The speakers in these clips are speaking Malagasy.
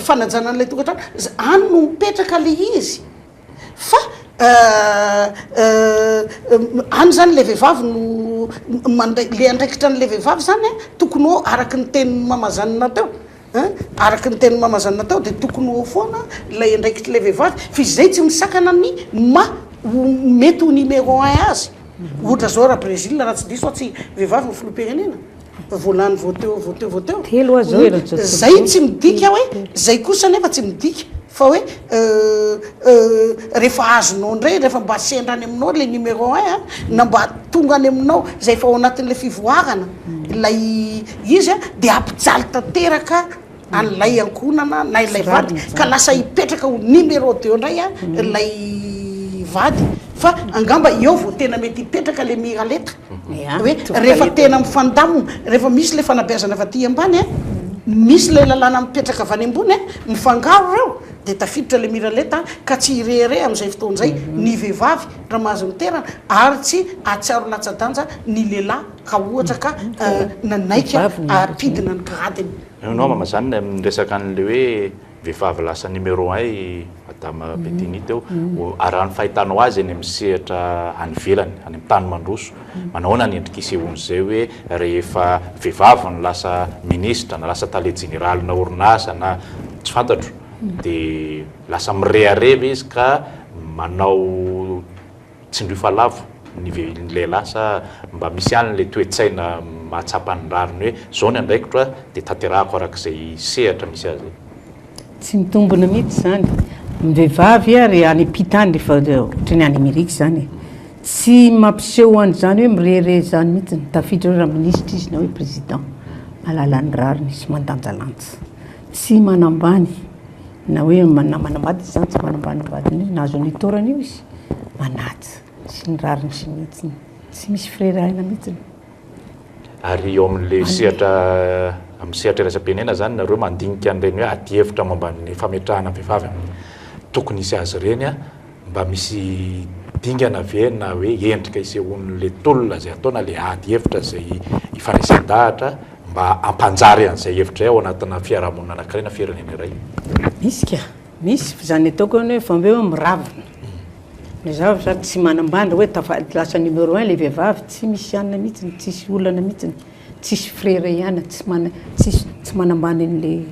fanajana an'ilay tokantrano any no mipetraka le izy fa euh, euh, euh, any zany le vehivavy no mandray le andraikitra an'le vehivavy zany tokony ho araky ny teny mamazanina teo Araka ny tenin'i Mama Zanna tao dia tokony ho eo foana ilay andraikitr'ilay vehivavy fa izy izay tsy misakana amin'ny maha ho mety ho numéro un azy. Ohatra izao raha Brésil raha tsy diso aho tsy vehivavy no filoham-pirenena? Vao lany vao teo vao teo vao teo. Telo aza eo eran'i George Bush. Izay tsy midika hoe, izay kosa anefa tsy midika fa hoe rehefa azonao indray, rehefa mba sendra any aminao ilay numéro un na mba tonga any aminao izay efa ao anatin'ilay fivoarana ilay Izy dia hampijaly tanteraka an'ilay ankohonana na ilay vady ka lasa hipetraka ho numéro deux indray ilay vady fa angamba eo vao tena mety hipetraka ilay miralenta hoe rehefa tena mifandamina, rehefa misy ilay fanabeazana avy aty ambany a, misy ilay lalàna mipetraka avy any ambony a, mifangaro ireo dia tafiditra ilay miralenta ka tsy hirehareha amin'izay fotoana izay ny vehivavy raha mahazo ny terany ary tsy hahatsiaro latsa-danja ny lehilahy. Ka ohatra ka nanaiky hampidina ny gradiny. Enao mama zany le miresaka anle hoe vehivavy lasa numéro un i madame Bedini teo araha ny fahitanao azy eny amin'ny sehatra any ivelany any amin'ny tany mandroso manahoana ny endrika isehoan'izay hoe rehefa vehivavy no lasa ministra na lasa tale jeneralinà orinasa na tsy fantatro dia lasa mirehareha ve izy ka manao Tsindrio fa lavo ny lehilahy sa mba misy ihany ilay toe-tsaina mahatsapa ny rariny hoe izao ny andraikitro a, dia tanterahako araka izay sehatra misy azy e. Tsy mitombina mihitsy izany. Ny vehivavy ary any am-pita any rehefa ohatra ny any Amerika izany e, tsy mampiseho an'izany hoe mirehareha izany mihitsy. Tafiditra hoe raminisitra izy na hoe président. Mahalala ny rariny sy mandanjalanja. Tsy manambany. na hoe na manambady izy zany tsy manambany ny vadiny hoe nahazo an'io taorana io izy manaja sy ny rariny sy ny hitsiny tsy misy firerahina mihitsiny ary eo amin'le sehatra amin'ny sehatra iraisam-pirenena zany nareo mandinika an'ireny hoe adihevitra momba ny fametrahana vehivavy amin'ny tokony hisy azy ireny a Mba misy dingana ve na hoe endrika isehoan'ilay tolona izay atao na ilay ady hevitra izay ifandraisan-dahatra mba hampanjary an'izay hevitra izay ao anatina fiarahamonina anankiray na firenena iray? Misy ka! Misy, izany ataoko hoe vao be hoe miravona, na za za tsy manambany hoe tafady lasa numéro un ilay vehivavy, tsy misy anona mihitsiny, tsisy olana mihitsiny, tsisy frera ihany, tsy mana- tsisy tsy manambany an'ilay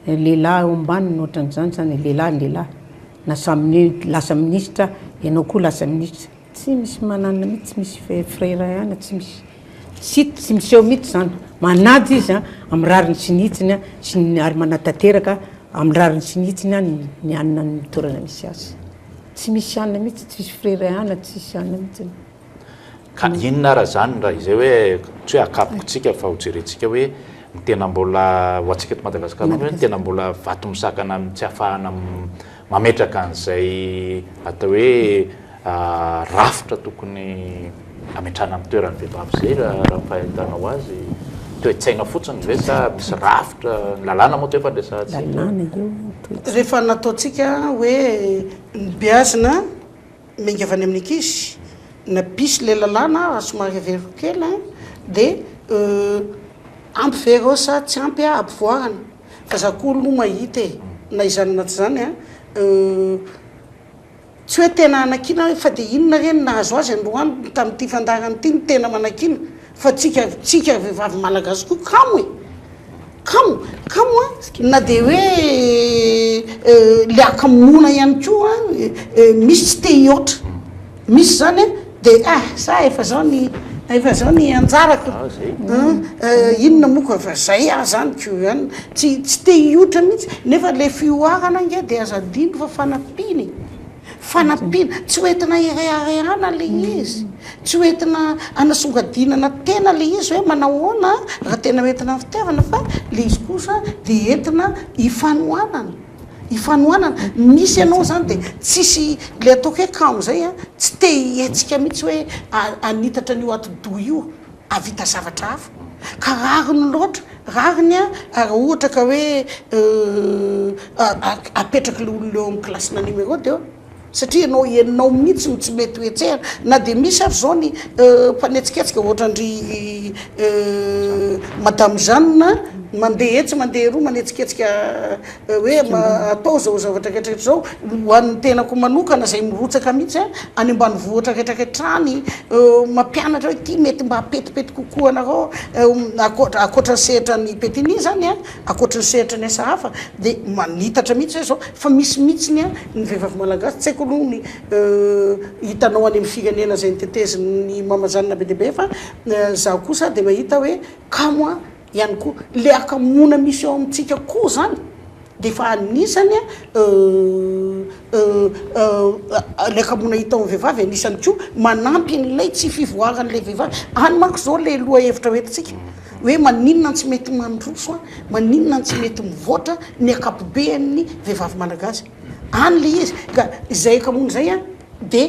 lehilahy ao ambaniny ohatran'izany izany, lehilahy ny lehilahy. Na samy mi lasa ministra ianao koa lasa ministra tsy misy manana mihitsy tsy misy fe frera ihany tsy misy sy tsy miseho mihitsy zany manaja izy a amin'ny rariny sy ny hitsiny a sy ny ary manatanteraka amin'ny rariny sy ny hitsiny a ny ny anona ny toerana misy azy tsy misy anona mihitsy tsisy frera ihany tsisy anona mihitsy Ka inona ara izany raha izay hoe, tsy hoe akapokontsika fa hojerentsika hoe ny tena mbola, ho antsika eto Madagasikara manokana, hoe ny tena mbola vato misakana amin'ny tsy ahafahana mametraka an'izay atao hoe rafitra tokony hametrahana amin'ny toeran'ny vehivavy izay raha ny fahitanao azy? Toe-tsaina fotsiny ve sa misy rafitra, ny lalàna moa efa noresahantsika? Rehefa nataontsika hoe ny beazina. Miainga avy any amin'ny ankizy na bisy ilay lalàna raha somary averiko kely a dia euh, ampy ve ireo sa tsy ampy a ampivoarana fa za koa aloha mahita e, na izany na tsy izany a euh, tsy hoe tena hanakiana aho fa dia inona re no nahazo azy androany tamin'ity fandaharana ity no tena manakiana Fa tsika tsika vehivavy malagasy koa kamo e! kamo kamo a! na dia hoe le akamoana ihany koa misy tsy te hihoatra misy zany a! de ah za efa zao ny efa zao ny anjarako an! inona moa koa fa zay ah zany ko an! tsy tsy te hihoatra mihitsy nefa le fihoarana ange de aza adino fa fanampiana e! Fanampiana, tsy ho entina hireharehana ilay izy, tsy ho entina hanasongadinana tena ilay izy hoe manao ahoana raha tena ho entina ny fitiavana fa ilay izy kosa dia entina hifanohanana, hifanohanana. Misy ianao izany dia tsisy ilay ataoko hoe kamo izay a, tsy te-hihetsika mihitsy hoe hanitatra an'io atidoha io Hahavita zavatra hafa. Ka rariny loatra, rariny an, raha ohatra ka hoe apetraka ilay olona eo amin'ny kilasina numéro dia satria ianao ianao mihitsy no tsy mety ho hetsehina, na dia misy ary izao ny mpanetsiketsika ohatran-dry madame Jeanne mandeha etsy mandeha eroa manetsiketsika. hoe atao izao zavatra rehetra rehetra izao ho an'ny tenako manokana izay mirotsaka mihitsy a, any ambanivohitra rehetra rehetra any, mampianatra hoe ity mety mba hapetipety kokoa anareo ankoatra ankoatra ny sehatra an'i Petigny izany a, ankoatra ny sehatra ny asa hafa dia manitatra mihitsy hoe izao fa misy mihitsy ny a ny vehivavy malagasy tsy haiko aloha ny hitanao any amin'ny firenena izay notetezin'ny mama zanona be dia be fa izaho kosa dia mahita hoe kamo a. ihany koa le akamoana misy ao amintsika koa zany de efa anisany a le akamoana hita ao amin'ny vehivavy anisany koa manampy an'ilay tsy fivoaran'ilay vehivavy any manko zao le loha hevitra ho entintsika hoe maninona no tsy mety mandroso a maninona no tsy mety mivoatra ny akapobean'ny vehivavy malagasy any le izy ka izay akamoana izay a de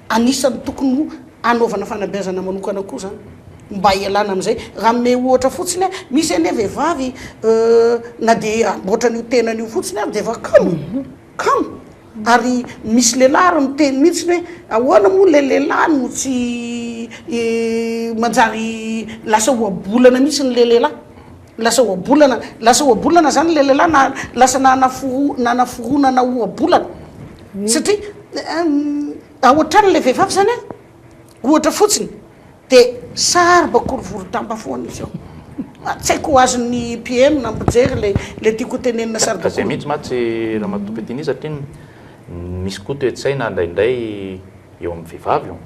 Anisan'ny tokony ho anaovana fanabeazana manokana koa izany mba hialana amin'izay. Raha hanome ohatra fotsiny aho, misy anie vehivavy na dia hamboatra an'io tenany io fotsiny ary dia efa kamo, kamo. Ary misy lehilahy ary miteny mihitsy hoe ahoana moa ilay lehilahy no tsy manjary lasa ohabolana mihitsy ilay lehilahy. Lasa ohabolana, lasa ohabolana zany le lehilahy na lasa nanaforo- nanaforonana ohabolana satria a ohatrany le vehivavy zany a, ohatra fotsiny, de sarba korovoron-damba foana izy eo, a tsy haiko ho azon'ny PM na mpijery le le tiako ho tenenina sarba Ka zay koro- mihitsy mantsy Ramatoa Bettina satria ny misy koa toe-tsaina ndraindray eo amin'ny vehivavy io,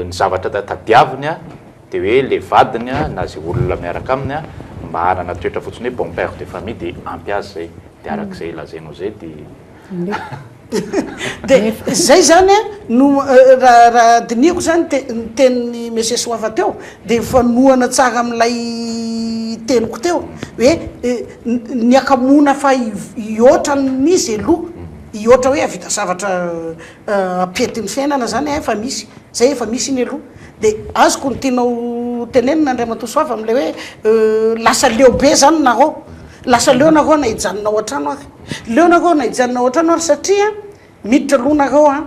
ny zavatra ta- tadiaviny a. Dia hoe ilay vadiny na izay olona miaraka aminy a, mba hanana toetra fotsiny hoe bon père de famille dia ampy azy izay. Dia araka izay lazainao izay dia. Dia izay izany a no raha dinihiko izany ny tenin'i Monsieur Soava teo dia mifanohana tsara amin'ilay teniko teo hoe ny hakamoana fa hihoatra ny izy aloha, hihoatra hoe hahavita zavatra. pentin'ny fiainana zany efa misy zay efa misy iny aloha de azoko ny tianao tenenina Andriamatoa Soava amle hoe lasa leo be zany nareo lasa leo nareo na hijanona ao an-trano ary leo nareo na hijanona ao an-trano ary satria miditra aloha nareo a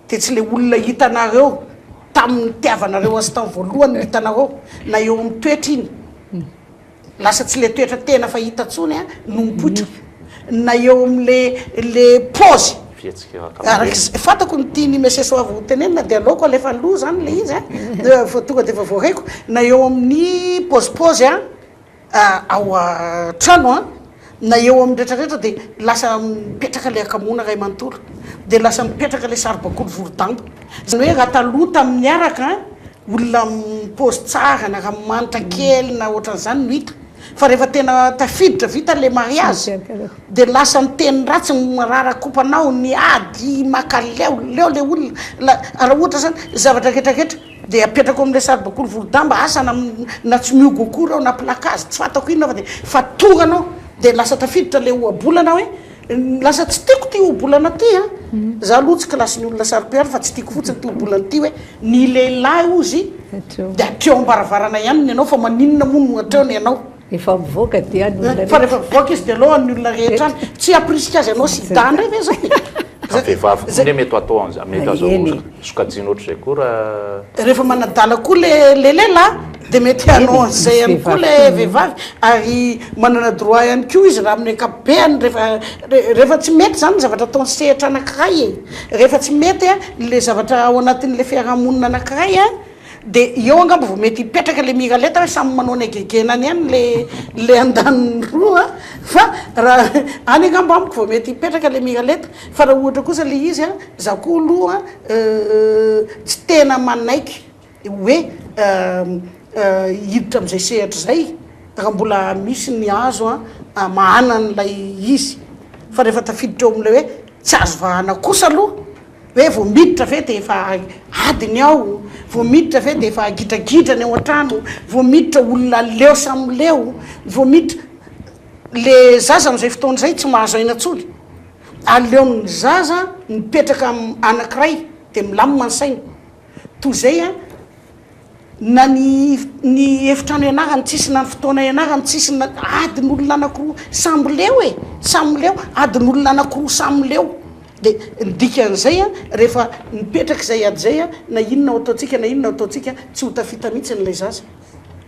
de tsy le olona hitanareo tamin'ny nitiavanareo azy tany voalohany no hitanareo na eo amin'ny toetra iny Lasa tsy le toetra tena fahita tsony a no mipoitra na eo am le le pause. Fihetsika ankapobeny. Arak'izay fantako ny tian'i Monsieur Soava ho tenenina dia aleoko alefa aloha zany le izy a, vao tonga dia vao voahaiko na eo amin'ny pôzipôzy a ao an-trano a. Na eo amin'ny rehetra rehetra dia lasa mipetraka ilay hakamoana iray manontolo, dia lasa mipetraka ilay saribakoly vorodamba. Izany hoe raha taloha tamin'ny niaraka, olona mi-pose tsara na ranomanitra kely na ohatran'izany no hita, fa rehefa tena tafiditra, vita ilay mariazy, dia lasa miteny ratsy, mirara kopa anao, ny ady, maka leo, leo ilay olona, la, raha ohatra izany, zavatra rehetra rehetra. Dia apetrako amin'ilay saribakoly volodamba, asa na na tsy mihogo akory aho na plakazy tsy fantako inona fa dia fa tonga anao dia lasa tafiditra ilay ohabolana hoe lasa tsy tiako ity ohabolana ity a! Za aloha tsy kilasin'ny olona saro-piaro fa tsy tiako fotsiny ity ohabolana ity hoe ny lehilahy hozy dia hatreo am-baravarana ihany ny anao fa maninona moa no hatreo ny anao? Efa mivoaka dia any olona rehetra. Fa rehefa mivoaka izy dia aloha any olona rehetra any. Tsy hampirisika azy hanao sida indray ve izany? Fa vehivavy koa anie mety hatao an'izany, mety azo sokajiana ohatr'izay koa raha. Rehefa manadala koa le le lehilahy dia mety hanao an'izay ihany koa le vehivavy ary manana droit ihany koa izy raha amin'ny ankapobeny rehefa rehefa tsy mety izany ny zavatra ataon'ny sehatra anankiray e! Rehefa tsy mety a le zavatra ao anatin'ilay fiarahamonina anankiray a. De eo angamba vao mety hipetraka le miralenta hoe samy manao ny hagegenany any le le andaniny roa a! fa raha any angamba amiko vao mety hipetraka le miralenta fa raha ohatra kosa le izy a za koa aloha tsy tena manaiky hoe hiditra am'zay sehatra zay raha mbola misy ny azo a amahana an'ilay izy fa rehefa tafiditra eo am'le hoe tsy azo vahana kosa aloha Hoe vao miditra ve dia efa adiny ao, vao miditra ve dia efa gidragidra ny ao an-trano, vao miditra olona leo samy leo, vao miditra. Le zaza amin'izay fotoana izay tsy mahazo aina intsony. Aleon'ny zaza mipetraka amin'ny anankiray dia milamina ny sainy. Toy izay a. na ny ny efitrano ianarany tsisy na ny fotoana ianarany tsisy na adin'olona anakiroa samy leo e samy leo adin'olona anakiroa samy leo de ny dikan'izay a rehefa mipetraka izay ady izay a na inona ao ataontsika na inona ao ataontsika tsy ho tafita mihitsy ilay zaza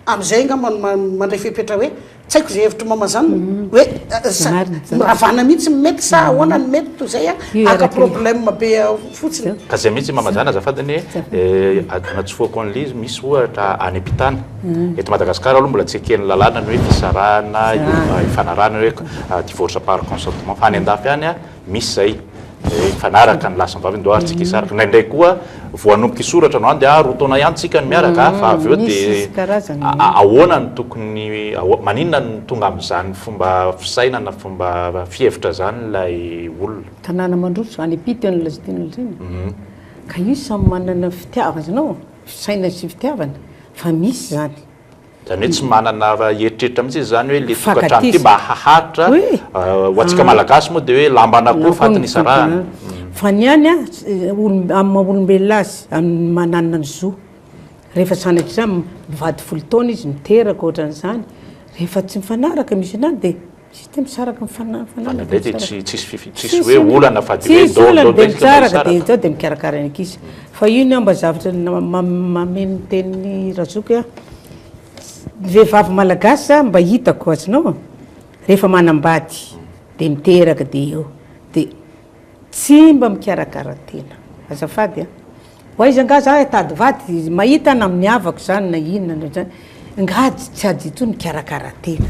amin'izay angamba no mandray fepetra hoe Tsy haiko izay hevitr'i Maman izany hoe miravana mihitsy ny mety sa ahoana ny mety toy izay haka problème be fotsiny. Ka izay mihitsy Maman izany azafady anie anatsofohako an'ilay izy misy ohatra any am-pitana. Eto Madagascar aloha mbola tsy eken'ny lalàna ny hoe fisarahana, ifanarahana hoe divorce par consentement fa any an-dafy any misy zay mifanaraka ny lahy sy ny vavy ndoa ary tsy kisaraka indraindray koa vao hanomboka hisoratra no any dia roa taona ihany tsika no miaraka fa avy eo dia ahoana no tokony maninona no tonga amin'izany fomba fisainana fomba fihevitra izany ilay olona tanàna mandroso any ampita ny lazainao izany ka io samy manana ny fitiavana no fisainana sy fitiavana fa misy izany Izany hoe tsy manana raha eritreritra mihitsy izy izany hoe ilay tokantrano ity mba haharitra, ho antsika malagasy moa dia hoe lamban'akoho fatin'ny isarahana. Fa ny any amin'ny maha olombelona azy, amin'ny maha nanana ny zo, rehefa sanatria mivady folo taona izy, miteraka ohatran'izany, rehefa tsy mifanaraka misy an'izany dia Tsy dia misaraka ny fanahy. Fanahy dia tsy misaraka. Tsy misy fifi- tsisy hoe olana fa dia hoe Tsisy olana, dia misaraka, dia izao dia mikarakara ny ankizy. Fa io ny angamba zavatra na- ma- mahameny ny tenin'i Razoky ahy. Ny vehivavy malagasy zany mba hitako azonao, rehefa manambady dia miteraka dia eo. Dia Tsy mba mikarakara tena. Azafady a. Ho aiza nga za hitady vady? Mahita na amin'ny havako zany na inona na zany. Nga tsy ady intsony mikarakara tena.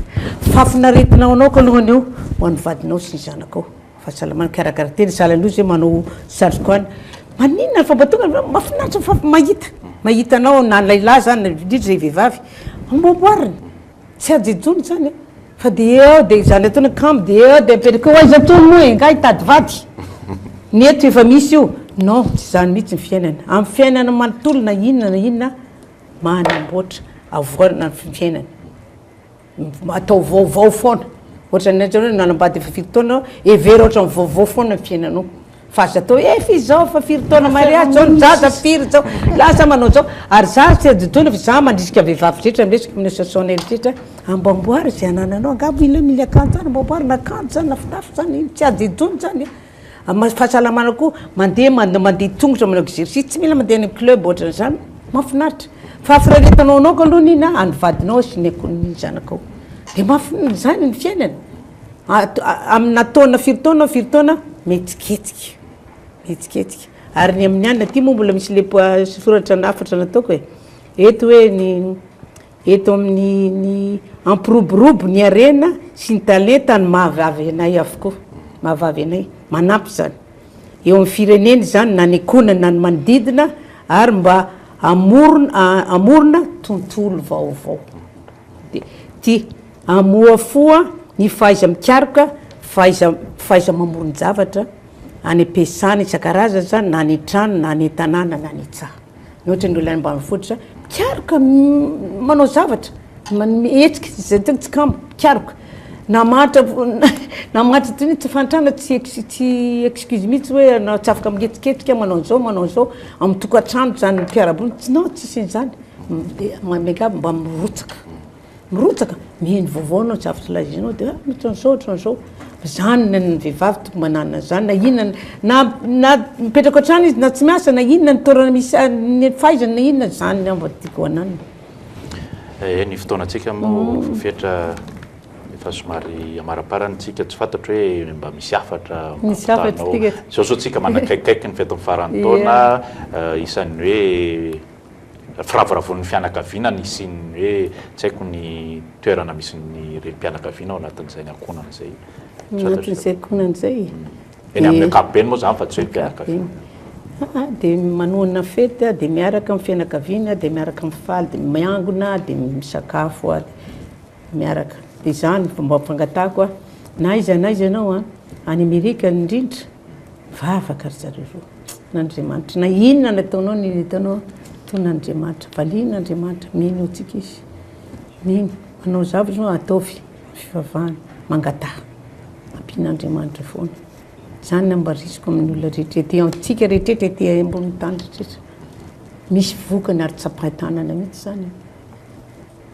Fafin'aretina ho anao kalongany eo, ho an'ny vadinao sy ny zanakao. Fahasalamana, mikarakara tena. Sahala an'ireo zay manao satroka any. Maninona fa mba tonga de mahafinaritra fa mahita. Mahita anao na lehilahy zany, indrindra zay vehivavy, amboaboariny. Tsy ajo intsony izany e! Fa dia eo dia izany ataony akama dia eo dia mipetraka eo aiza intsony moa engahy hitady vady? Ny eto efa misy io! Non, tsy izany mihitsy ny fiainana. Amin'ny fiainana manontolo na inona na inona manamboatra avoanina ny fiainana. Atao vaovao foana. Ohatran'ny hoe nanambady efa firy taona aho, hevero ohatran'ny vaovao foana ny fiainanao. Fa aza atao hoe f'izy zao fa firy taona mariazy zao ny zaza firy zao lahy sa manao zao ary za tsy adintoina fa za mandrisika vehivavy rehetra miresaka amin'io soasoanel rehetra hoe amboamboary ze anananao angamba io mila akanjo zany amboamboary na akanjo zany na fitafy zany ino tsy adintoina zany e amin'ny fahasalamana koa mandeha mande- mandeha tongotra manao exercice tsy mila mandeha any amin'ny club ohatran'izany mahafinaritra fahafinaretanao anao kaloha ny iny a an'ny vadinao sy ny akoho ny zanakao de mahafin- zany ny fiainana e. Amina taona firy taona firy taona mihetsiketsika mihetsiketsika ary ny amin'ny anona aty moa mbola misy le soratra lafatra nataoko e eto hoe ny eto amin'ny ny ampiroborobo ny harena sy ny talenta ny mahavavy anay avokoa mahavavy anay manampy zany eo amin'ny firenena zany na ny ankohonany na ny manodidina ary mba hamorona hamorona tontolo vaovao. DT, Hamohafoha ny fahaiza-mikaroka, fahaiza fahaiza-mamoron-javatra any am-piasana isan-karazany izany na any an-trano na any an-tanàna na any an-tsaha. Ny ohatra ny olona any ambanivohitra mikaroka manao zavatra, manome hetsika izay tena tsikamo, mikaroka. Namahantra namahantra toy ny tsy fahantrana tsy ex- tsy excuse mihitsy hoe hanao tsy afaka miketriketrika manao an'zao manao an'zao, amin'ny tokantrano izany mpiara-monina, non tsisy an'izany. Dia miangavy mba mirotsaka. Mirotsaka, miheno vaovao anao tsy afaka lazainao dia ohatran'izao ohatran'izao. Zany ny an'ny vehivavy tokony manana an'zany na inona na na mipetraka hatrany izy na tsy miasa na inona ny toerana misy a- ny fahaizany na inona zany angamba no tiako hananina. Ee, ny fotoanantsika moa efa fetra, efa somary hamaraparany tsika, tsy fantatro hoe mba misy hafatra Misy hafatra ampitanaho. tsika. Izao zao tsika manakaikikaiky ny fetin'ny faran'ny taona, isan'ny hoe. firavoravoan'ny fianakaviana ny hisian'ny hoe tsy haiko ny toerana misy ny renim-pianakaviana ao anatin'izay ny ankohonana izay. Ao anatin'izay ankohonana izay? Eny amin'ny ankapobeny moa izany fa tsy hoe mpianakaviana. Aa, dia manohana fety aho, dia miaraka amin'ny fianakaviana aho, dia miaraka mifaly, dia miangona, dia misakafo ary. miaraka. Dia izany vao mba fangatahako aho, na aiza na aiza ianao an, any Amerika indrindra, mivavaka ry zareo roa. An' Andriamanitra, na inona ny ataonao na inona ataonao, tony Andriamanitra, valian' Andriamanitra, mino antsika Izy. Mino, manao zavatra ianao, ataovy ny fivavahana, mangataha, ampian' Andriamanitra foana. Izany no mba risiko amin'ny olona rehetra ety, antsika rehetra rehetra ety ambonin'ny tany rehetra. Misy vokany ary tsapain-tanana mihitsy izany an.